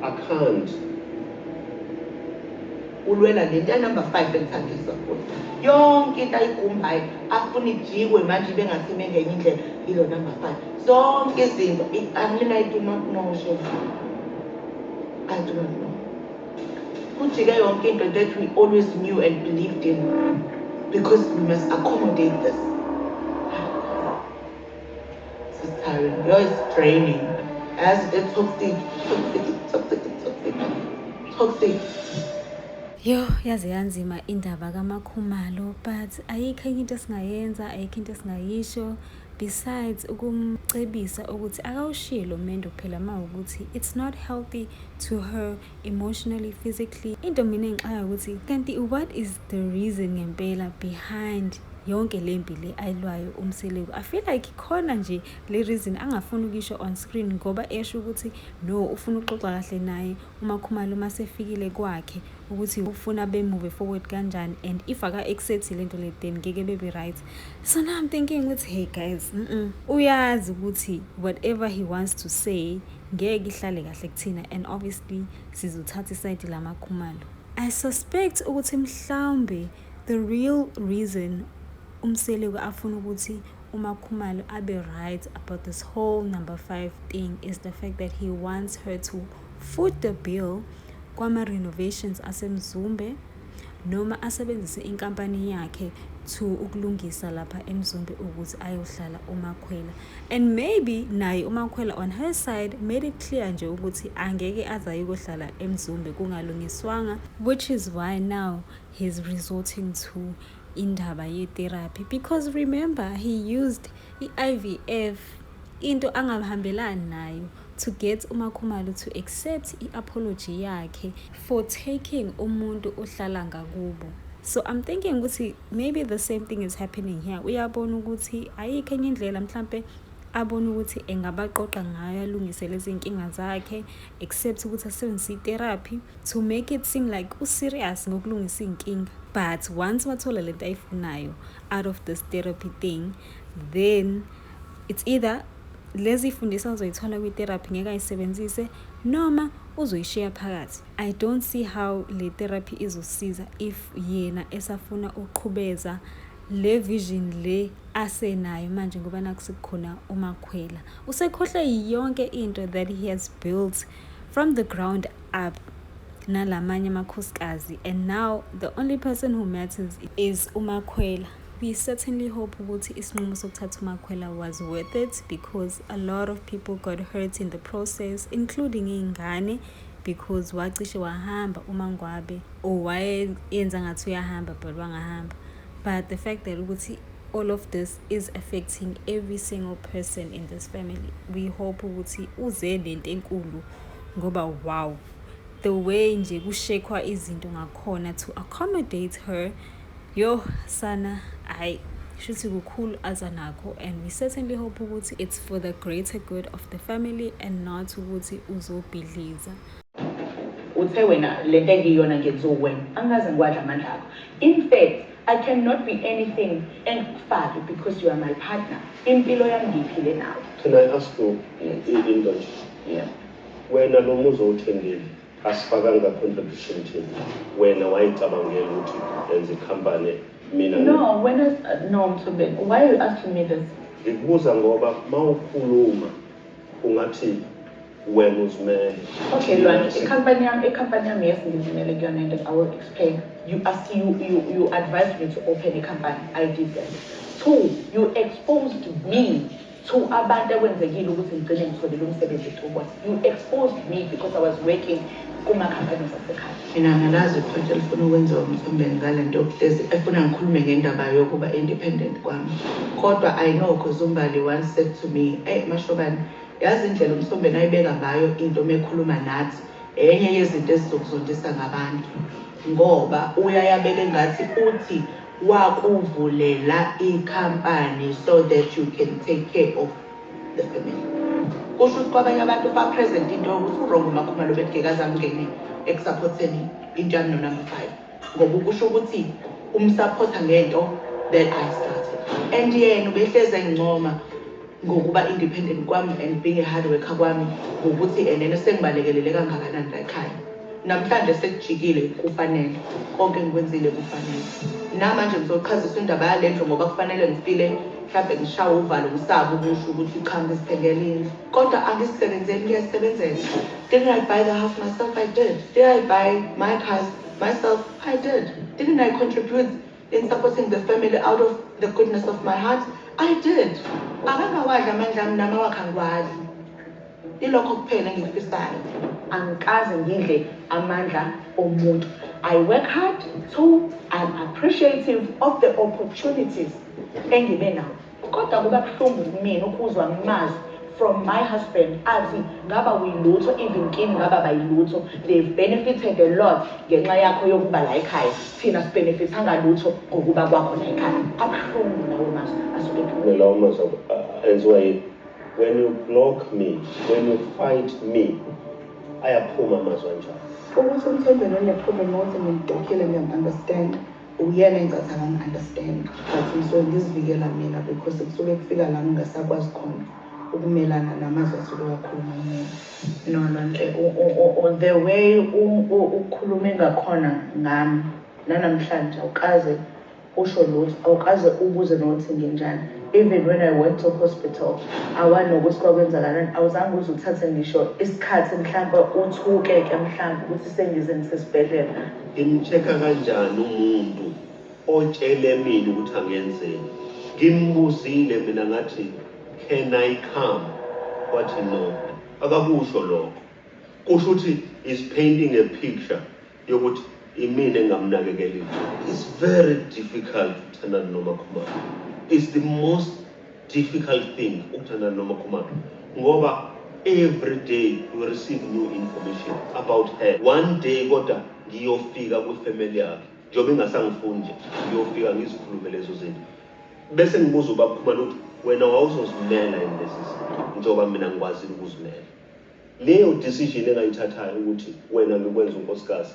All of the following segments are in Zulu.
I can't. Ulwela le nto yanumber five engithandiswa futhi. Yonke into ayigumbayo afuna ijikwe manje ibe ngathi ime ngenye indlela ilo number five. Zonke izinto angilina I do not know shefu. I do not know. Kujike yonke into that we always knew and believed in because we must accommodate this. Yo is draining. As a toxic, toxic, toxic, toxic, toxic. Yo yaze yanzima indaba kamakhumalo but ayikho enye into esingayenza ayikho into esingayisho besides ukumcebisa ukuthi akawushilo mendo phela uma ukuthi it's not healthy to her emotionally physically into mina engixaka ukuthi kanti what is the reason ngempela behind yonke le mpi le ayilwayo umseleku i feel like khona nje le reason angafuni ukisho on screen ngoba esho ukuthi no ufuna ukuxoxa kahle naye umakhumalo uma sefikile kwakhe ukuthi ufuna bemove forward kanjani and if aka accept lento le then ngeke bebe right so now i'm thinking ukuthi hey guys mm -mm. uyazi ukuthi whatever he wants to say ngeke ihlale kahle kuthina and obviously sizothatha isayidi lamakhumalo i suspect ukuthi mhlawumbe the real reason umseleku afuna ukuthi umakhumalo abe right about this whole number five thing is the fact that he wants her to foot the bill kwama-renovations asemzumbe noma asebenzise inkampani yakhe to ukulungisa lapha emzombe ukuthi ayohlala umakhwela and maybe naye umakhwela on her side made it clear nje ukuthi angeke aze ayokohlala emzombe kungalungiswanga which is why now he's resorting to indaba ye-therapy because remember he used i-IVF into angahambelani nayo to get uMakhumalo to accept i-apology yakhe for taking umuntu ohlala ngakubo so i'm thinking ukuthi maybe the same thing is happening here uyabona ukuthi ayikho enye indlela mhlampe abone ukuthi engabaqoqa ngayo alungise lezi nkinga zakhe except ukuthi asebenzise itherapy to make it seem like userious ngokulungisa iy'nkinga but once wathola le nto ayifunayo out of this therapy thing then it's either lezi fundisa azoyithola kwi-therapy ngeke ayisebenzise noma uzoyishiya phakathi i don't see how le therapy izosiza if yena esafuna ukuqhubeza le vision le asenayo manje ngoba naku sekukhona umakhwela usekhohlwe yonke into that he has built from the ground up nalamanye amakhosikazi and now the only person who matters is umakhwela we certainly hope ukuthi isinqumo sokuthatha umakhwela was worth it because a lot of people got hurt in the process including iy'ngane because wacishe wahamba umangwabe or wayenza ngathi uyahamba but wangahamba but the fact that ukuthi all of this is affecting every single person in this family we hope ukuthi uze lento enkulu ngoba wow the way nje kushekwa izinto ngakhona to accommodate her Yoh sana hayi shuthi kukhulu aza nakho and we certainly hope ukuthi it's for the greater good of the family and not ukuthi uzobhidliza uthe wena le nto engiyiyona ngenziwa uwena angikaze ngiwadla amandla akho in fact i cannot be anything engikufake because you are my partner impilo yami ngiyiphile nawe can i ask you into nje wena lo muzi owuthengile Asifakanga contribution thina. Wena wayicabangela ukuthi enza icompany mina. No, wena no Mthube, why are you asking me this? Ngikubuza ngoba mawukhuluma ungathi wena uzimele. Okay, Lwani, icompany yami, icompany yami yes ngizimele kuyona and I will explain. You ask you you you advised me to open a company. I did that. Two, you exposed me to abantu ekwenzekile ukuthi ngigcine ngithole lo msebenzi eTukwasa. You exposed me because I was working kuma-companies asekhaya. Mina ngalazi iphonto elifuna ukwenziwa umthombeni ngale nto yokuhlezi efuna ngikhulume ngendaba yokuba independent kwami. Kodwa I know because uMbali once said to me, eyi Mashobane, yazi indlela umthombeni ayibeka ngayo into uma ekhuluma nathi enye yezinto ezizokuzondisa ngabantu ngoba uyayabeka engathi uthi wakuvulela I company so that you can take care of the family kusho ukuthi kwabanye abantu uba present into yokuthi urongo umakhumalo bengekaze angene ekusaphotheni into yami nonumber five ngoba ukusho ukuthi umsaphotha ngento that i started and yena ubehlezi engincoma ngokuba independent kwami and being a hard worker kwami ngokuthi enene sengibalekelele kangakanani layikhaya namhlanje sekujikile kufanele konke engikwenzile kufanele namanje ngizoqhazisa indaba yale ndlu ngoba kufanele ngifile mhlawumbe ngishawe uvalo ngisaba ukusho ukuthi cha ngizithengela indlu kodwa angisisebenzeli ngiyasebenzela didn't i buy the house myself i did did i buy my cars myself i did didn't i contribute in supporting the family out of the goodness of my heart i did akangawadli amandla ami nami awakhe angiwadli ilokho kuphela engikufisayo angikaze ngidle amandla omuntu i work hard so i'm appreciative of the opportunities engibe nawo Kodwa kuba buhlungu kumina ukuzwa amazwi from my husband athi ngaba uyilutho even kim ngaba bayilutho they've benefited a lot ngenxa yakho yokuba la ekhaya thina sibenefithanga lutho ngokuba kwakho la ekhaya abuhlungu lawo mazwi asuke lawo mazwi enziwa yini when you block me when you fight me ayaphuma amazwi anjalo ukuthi umthembelele phuma emothi ngimdokile ngiyam-understanda Uyena engicatha ngangi understand but ngisuke ngizivikela mina because kusuke kufika la ngingasakwazi khona ukumelana namazwi asuke wakhuluma mina. No no nhle the way ukhulume ngakhona ngami nanamhlanje awukaze usho lutho awukaze ubuze nokuthi nginjani even when i went to hospital awani nokuthi kwakwenzakalani awuzange uze uthathe ngisho isikhathi mhlawumbe uthuke ke mhlawumbe ukuthi sengize ngisesibhedlela Ngimchecker kanjani umuntu otshele mina ukuthi angenzeni? Ngimbuzile mina ngathi can I come? Wathi no. Akakusho lokho. Kusho ukuthi is painting a picture yokuthi imina engamnakekelile. It's very difficult to thandana noMakhumalo. It's the most difficult thing ukuthandana noma khumaphi ngoba every day we receive new information about her one day kodwa ngiyofika kwifamily yakhe njengoba ingasangifuni nje ngiyofika ngizikhulume lezo zinto bese ngibuza ubaba khumalo ukuthi wena wawuzozimela yini lezi zinto njengoba mina ngikwazile ukuzimela leyo decision engayithathayo ukuthi wena ngikwenza unkosikazi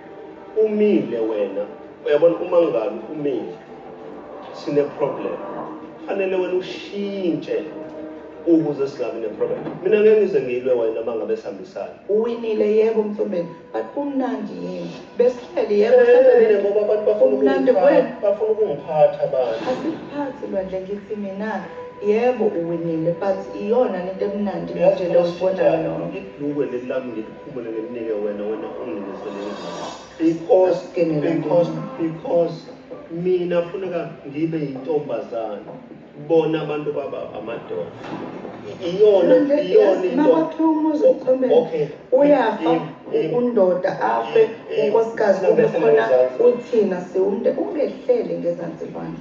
Umile wena uyabona uma ngabe umile sine problem fanele wena ushintshe ukuze singabi ne problem mina ngeke ngize ngilwe wena uma ngabe sihambisana uwinile yebo mthombeni but kumnandi yini besihleli yebo sesele ngoba abantu bafuna kumnandi wena bafuna ukungiphatha abantu asiphathi lwandle ngithi mina yebo uwinile but iyona into emnandi nje lokubona yona ngidlukwe lelami Phumule nginike wena wena unginise lengane. Because because because mina funeka ngibe yintombazane bona abantu baba amadoda iyona iyona into wakhiwa umuzi uqhombe uyafa undoda afe unkosikazi kube khona uthina siwumnde ungehlele ngezansi kwami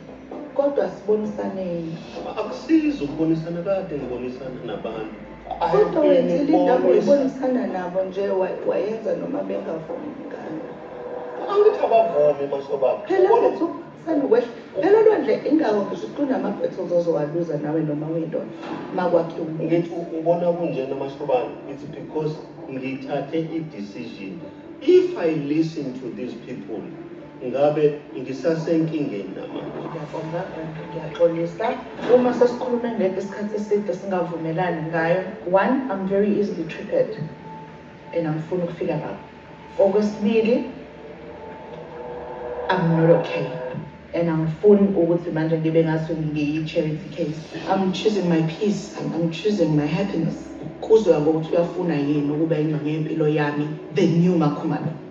kodwa sibonisaneni akusizi ukubonisana kade ngibonisana nabantu Kodwa wena ilinda uyibonisana nabo nje wayenza noma bengavumi ngani. Angithi abavumi masobaba. Phela mfethu senokwehla. Phela lwandle ingako ngisho kunamabhetho uzozowaluza nawe noma uyindoda makwakhe umuntu. Ngithi ubona kunjena masobaba. It's because ngithathe i-decision. If I listen to these people Ngabe ngisasenkingeni namanje? Ngiyabonga and ngiyaxolisa uma sesikhulume ngento isikhathi eside singavumelani ngayo. One, I'm very easily triggered and angifuni ukufika lapho. Okwesibili, I'm not okay and angifuni ukuthi manje ngibe ngathi ngiyi-charity case. I'm choosing my peace, I'm, I'm choosing my happiness. Kuzwa ngokuthi uyafuna yini ukuba ingxenye yempilo yami, the new Makhumalo.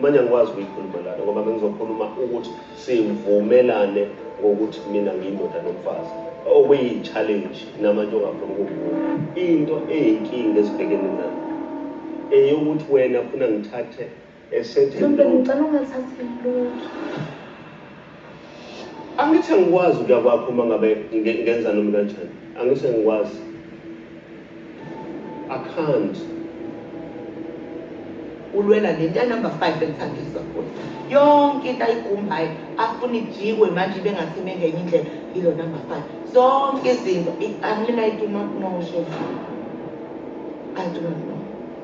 Manje angikwazi ukuyikhuluma lana ngoba bengizokhuluma ukuthi sivumelane ngokuthi mina ngiyindoda nomfazi okuyi-challenge namanje ongafuni ukuvuma into eyinkinga esibhekene nayo eyokuthi wena funa ngithathe esethe Simple ngicela ungathathi lutho. Angithi angikwazi ukuya kwakho uma ngabe ngenza noma kanjani. Angithi angikwazi. I can't. Ulwela le nto number 5 elithandiswa kuyo. Yonke into ayigumbayo afuna ijikwe manje ibe ngathi mengenye indlela ilo number 5. Zonke izinto i-unlimited uma kunosho. I do not know.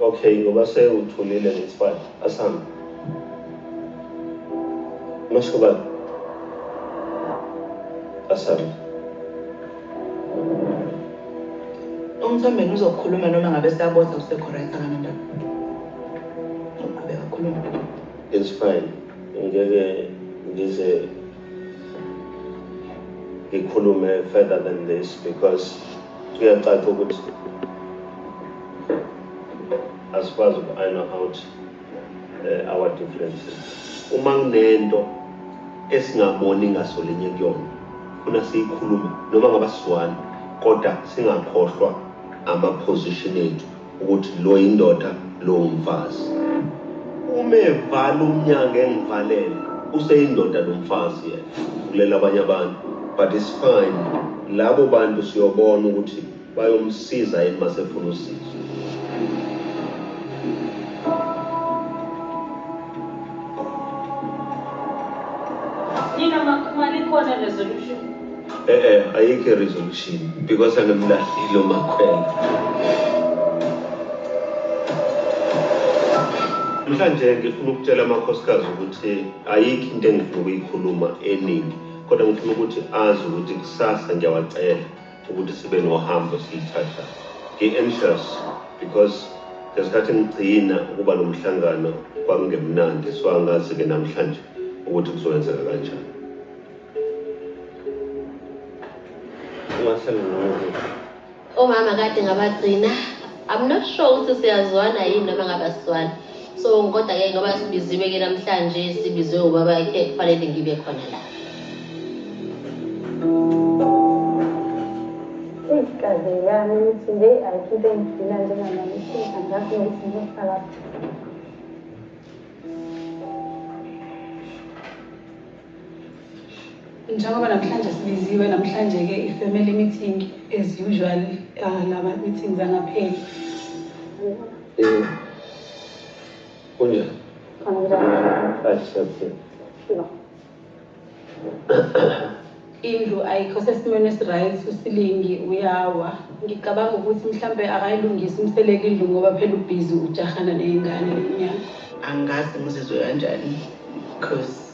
Okay ngoba sewuthulile ngesifana asambe. Mashobana. Asambe. Umthambeni uzokhuluma noma ngabe siyabotha usekho right akanandaba. Uqhubeka khuluma. It's fine. Ngeke ngize ngikhulume further than this because kuyacaca ukuthi asikwazi uku-iron out uh, our differences uma kunento esingaboni ngasolinye kuyona funa siyikhulume noma ngabasizwani kodwa singakhohlwa ama-position ethu ukuthi lo yindoda lo umfazi. Uma evala umnyango engivalele useyindoda lo mfazi yena. Kulela abanye abantu but it's fine. Labo bantu siyobona ukuthi bayomsiza yini masefuna usizo. Nina makhumali khona resolution Eh eh ayikho resolution because angemlahlile umakhwela. Mhlanje ngifuna ukutshela amakhosikazi ukuthi ayikho into engifuna ukuyikhuluma eningi kodwa ngifuna ukuthi azi ukuthi kusasa ngiyawacela ukuthi sibe nohambo siyithatha ngi-anxious because ngesikhathi ngigcina ukuba nomhlangano kwakungemnandi so angazi-ke namhlanje ukuthi kuzokwenzeka kanjani omama kade ngabagcina i'm not sure ukuthi siyazwana yini noma ngabaswana so kodwa ke ngoba sibiziwe ke namhlanje sibizwe ubaba ke kufanele ngibe khona la kaze yami ukuthi nje ayikhiphe ngigcina njengamalithi angazi nokuthi ngizosala Njengoba namhlanje sibiziwe namhlanje-ke i-family meeting as usual uh, lama meetings angapheli. Eh. Kunjani? Indlu ayikho sesimweni esiright usilingi uyawa. Ngicabanga ukuthi mhlambe akayilungisi umseleke indlu ngoba phela ubhizi ujahana ney'ngane lenyanga. Angazi ngizizwe kanjani because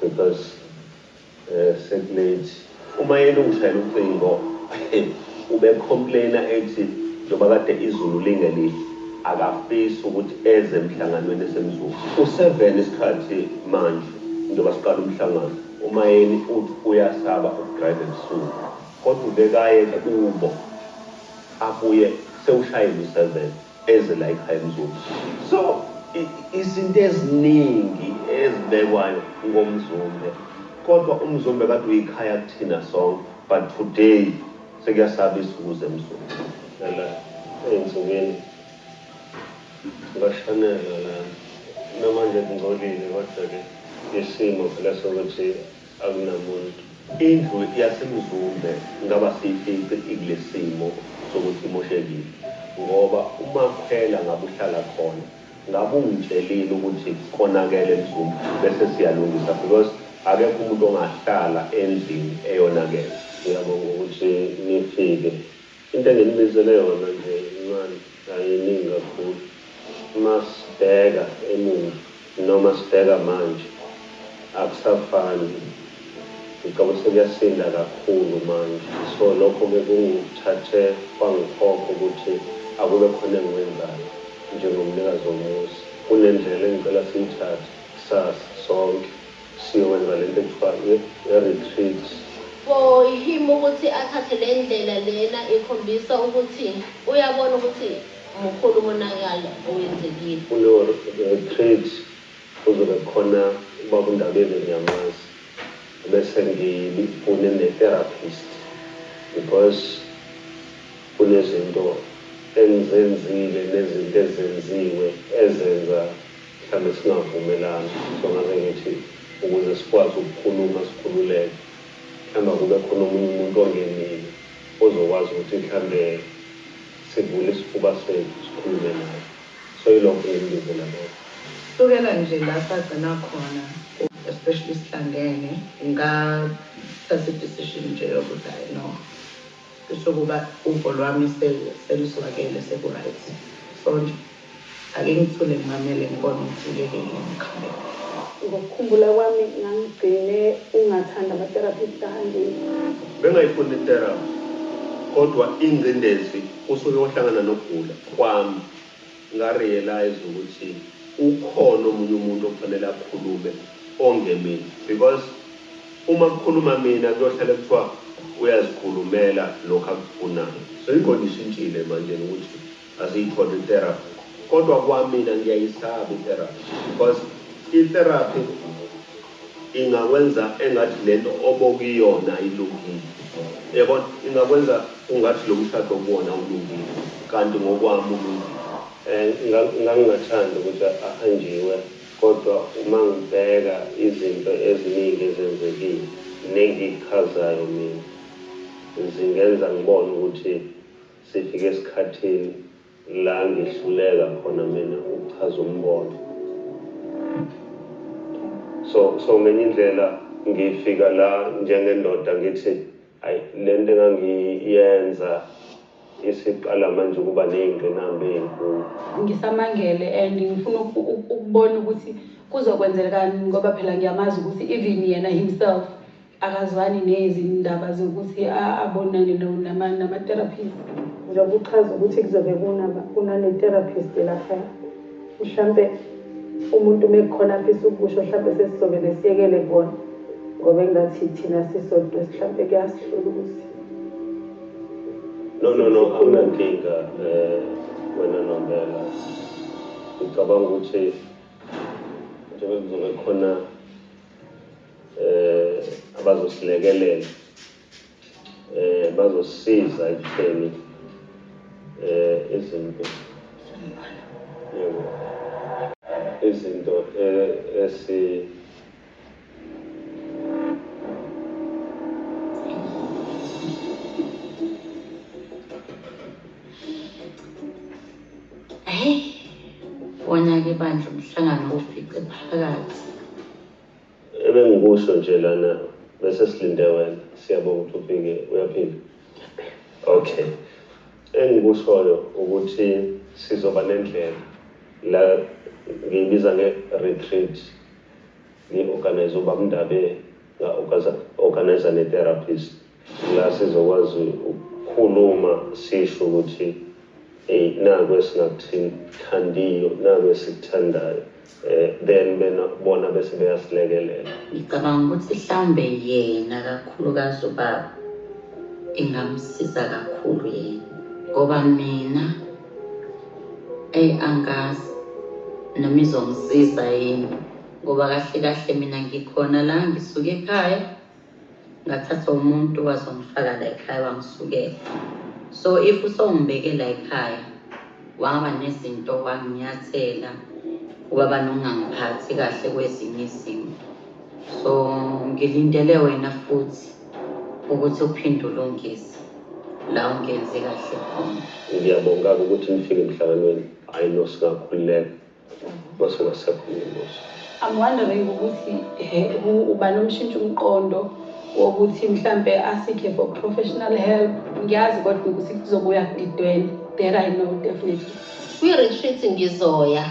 Because sekulate uma yena ungishayela ucingo ube complainer ethi njoba kade izulu lingelihle akafisi ukuthi eze emhlanganweni esemzuzu useven isikhathi manje njoba siqala umhlangano umayeni uthi uyasaba ukudrive ebusuku kodwa ubekaye kubo abuye sewushayile useven Eze la ekhaya Mzulu. So izinto eziningi ezibekwayo ngoMzumbe kodwa uMzumbe kade uyikhaya kuthina sonke but today sekuyasabisa ukuze Mzumbe. Phela ey'nsukwini bashanela lana namanje kungcolile kodwa-ke isimo phela sokuthi. Akunamuntu. Indlu yaseMzumbe ngaba siyifice ikulesimo sokuthi imoshekile ngoba uMakhwela ngabe uhlala khona ngabe ungitshelile ukuthi konakele eMzumbe bese siyalungisa because akekho umuntu ongahlala endlini eyonakele. Ngiyabonga ukuthi nifike. Into enginibizele yona nje incane ayiningi kakhulu uma sibheka emuva noma sibheka manje akusafani ngicabanga ukuthi sekuyasinda kakhulu manje so lokho ke kungithathe kwangikhokha ukuthi akube khona engikwenzayo njengomnikazi womuzi kunendlela engicela siyithathe kusasa sonke Siyowenza lento ekuthiwa i retreat. For him ukuthi athathe lendlela lena ikhombisa ukuthi uyabona ukuthi mukhulu umonakalo owenzekile. Kuleyo retreat kuzobe kukhona ubaba uNdabeni ngiyamazi bese ngifune ne therapist because kunezinto engizenzile nezinto ezenziwe ezenza Mhlambe singavumelana so ngaze ngithi ukuze sikwazi ukukhuluma sikhululeke mhlambe akube khona omunye umuntu ongenile ozokwazi ukuthi mhlambe sivule isifuba sethu sikhulume naye so ilokho engimbizela kona. Sukela nje la sagcina khona especially sihlangene ngathatha i decision nje yokuthi ayi no. Kusho ukuba uvo lwami seluswakele sekuryt sonke ake ngithule ngimamele ngibone ukuthi ngeke yini ngikhulelwe. Ngokukhumbula kwami ngangigcine ungathandi ama therapy Sthandi. Bengayifuni i therapy kodwa ingcindezi usuke wahlangana nokugula kwami. Nga realize ukuthi ukhona omunye umuntu okufanele akhulume ongemina because uma kukhuluma mina kuyohlale kuthiwa uyazikhulumela lokhu akufunayo so ingqondo ishintshile manjena ukuthi asiyithole i therapy kodwa kwamina ngiyayisaba i therapy because i therapy ingakwenza engathi lento obokuyona ayilungile uyabona ingakwenza ungathi lomshado okuwona awulungile kanti ngokwami ulungile. Ngangingathanda ukuthi ahanjiwe kodwa uma ngibheka izinto eziningi ezenzekile nengichazayo mina zingenza ngibone ukuthi sifike esikhathini. La ngihluleka khona mina ukuchaza umbono. So, so ngenye indlela ngifika la njengendoda ngithi ayi lento engangiyenza isiqala manje ukuba nezingqinamba ezinkulu. Ngisamangele and ngifuna ukubona ukuthi kuzokwenzelkani ngoba phela ngiyamazi ukuthi even yena himself. akazwani nezindaba zokuthi abonane nama-therapist njengoba uchaza ukuthi kuzobe kunane-therapist lapha mhlampe umuntu uma ekhona afisa ukusho mhlampe sesizobe nesiyekele kona ngoba engathi thina sisodwa mhlampe kuyasihlula ukuthi no no no akunankinga um wena nombela ngicabanga ukuthi njengoba kuzobe khona eh abazosilekelela eh bazosiza ekutheni eh izinto yebo izinto eh, esi Hey, wona ke bandla umhlangano ufice phakathi. Ebengikusho nje lana bese silinde wena. Siyabonga ukuthi ufike. Uyaphila? Okay. Engikushoyo ukuthi sizoba nendlela la ngiyibiza nge-retreat ngi-organize ubabNdabe nga-organize ne-therapist. La sizokwazi ukukhuluma sisho ukuthi ey naku esingakuthandiyo naku esikuthandayo eh, then bena bona bese beyasilekelela ngicabanga ukuthi mhlawumbe yena kakhulukazi ubaba ingamsiza kakhulu yena ngoba mina eyi angazi noma izongisiza yini ngoba kahle kahle mina ngikhona la ngisuke ekhaya ngathatha umuntu wazongifaka la ekhaya wangisukela so if usongibeke la ekhaya waba nezinto wanginyathela ubaba nongangiphathi kahle kwezinye izimo so ngilindele wena futhi ukuthi uphinde ulungise la ungenzi kahle khona ngiyabonga-ke ukuthi nifike emhlanganweni hhayi nosikakhululeka Bose wasakhula inkosi. I'm wondering ukuthi he who ubani umshintsha umqondo wokuthi mhlambe asikhe for professional help ngiyazi kodwa ukuthi kuzobuya kudidwele that I know definitely. Kwi-retreat ngizoya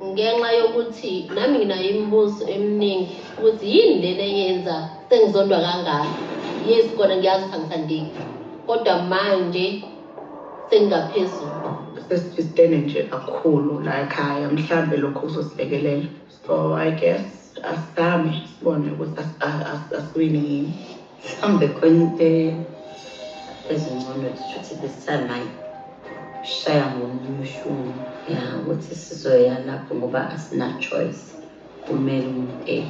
ngenxa yokuthi nami nginayo imibuzo eminingi ukuthi yini lena eyenza sengizondwa kangaka. Yes kona ngiyazi ukuthi angisandiki kodwa manje sengaphezulu sesifistene nje kakhulu la ekhaya mhlambe lokho kuzosilekelela so i guess asizame sibone ukuthi asiwini yini mhlawumbe khona into ezingcono shuthi this time ayi shaya ngomunye ushuni ya ukuthi sizoya lapho ngoba asina-choice kumele umuntu eyi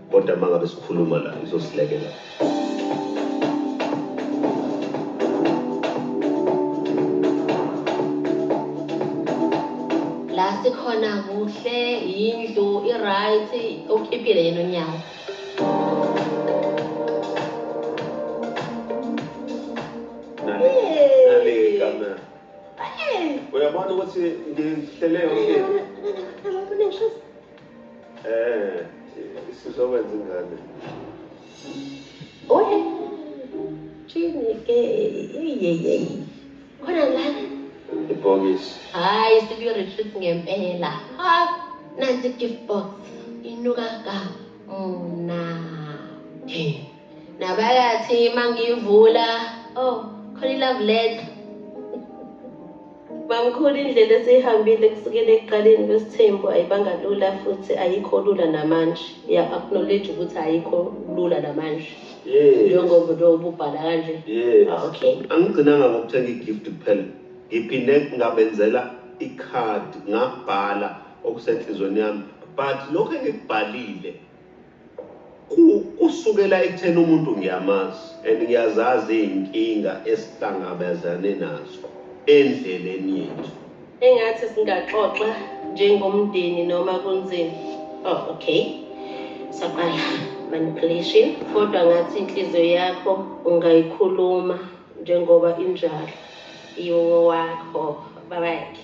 Kodwa mangabe sikhuluma la izosilekelela. La sikhona kuhle yindlu i right ukipile yena onyawo. Uyabona ukuthi ngihlele yonke. Eh, sizokwenza ingane. Oye. Chini ke yeyeyey. Khona la. Ibhokisi. Hayi sibiyo retreat ngempela. Ha, nanti gift box. Inuka ka. Mna. Hey. Nabakathi mangivula. Oh, khona i love letter. Mamkhulu indlela esiyihambile kusukela ekuqaleni kwesithembu ayibanga lula futhi ayikho lula namanje. Ya acknowledge ukuthi ayikho lula namanje. Yes. Njengoba lo ububhala kanje. Yes. Ah, okay. Angigcinanga ngokuthenga igift kuphela. Ngiphinde ngabenzela icard ngabhala okusenhlizweni yami but lokho engikubhalile Kusukela ekutheni umuntu ngiyamazi and ngiyazazi izinkinga esihlangabezane nazo endleleni yethu. Engathi singaxoxa njengomndeni noma kunzima. Oh okay. Saqala manipulation kodwa ngathi inhliziyo yakho ungayikhuluma njengoba injalo. Iwowakho babakhe.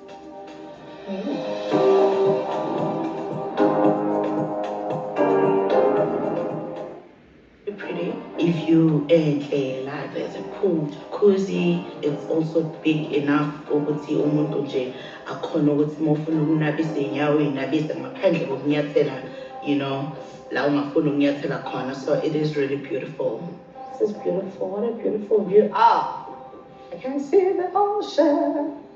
If you enhle life as a cool jacuzzi it's also big enough ukuthi umuntu nje akhona ukuthi uma ufuna ukunabisa iy'nyawo uyinabise ngaphandle kokunyathela you know la ungafuni ukunyathela khona so it is really beautiful this is beautiful what a beautiful view ah I can see the ocean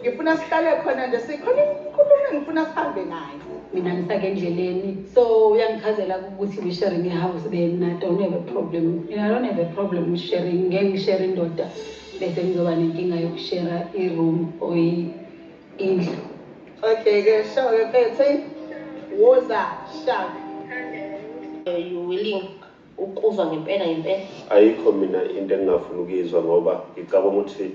Ngifuna sihlale khona nje sikhona inkulumo engifuna sihambe nayo. Mina ngisake endleleni. So uyangichazela ukuthi we sharing a house then I don't have a problem. Mina I don't have a problem with sharing. Ngeke ngishare indoda bese ngizoba nenkinga yokushare i-room or indlu. Okay ke show ke phethe woza shaka. Are you willing Ukuzwa ngempela ngempela. Ayikho mina into engingafuni ukuyizwa ngoba ngicabanga ukuthi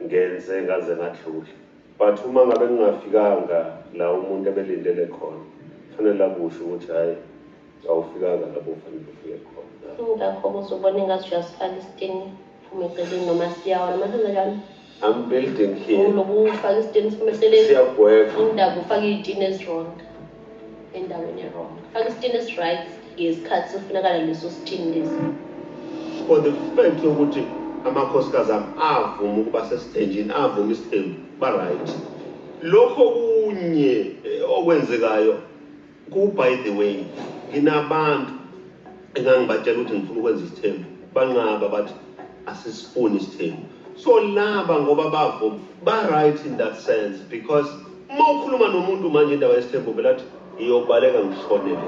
ngenze ngaze ngadlula but uma ngabe ngingafikanga la umuntu ebelindele khona kufanele akusho ukuthi hhayi awufikanga lapho ufanele ufike khona. Ingakho-ke uzobona engathi uyasivala isitini, uphume eceleni noma siyawa noma senzenjani. I'm building here. Unokufaka isitini siphume eceleni. Siyagweva. Undaba ufaka iy'tini ezi-wrong endaweni e-wrong. Faka isitini esi-right ngesikhathi sifunakala leso sitini lesi. For the fact yokuthi amakhosikazi ami avuma ukuba sesithenjini avuma isithembu ba-right. Lokho kunye eh, okwenzekayo Ku by the way nginabantu engangibatshela ukuthi ngifuna ukwenza isithembu banqaba bathi asisifuni isithembu so laba ngoba bavo ba right in that sense because uma ukhuluma nomuntu manje indawo yesithembu vele athi iyobaleka ngishonele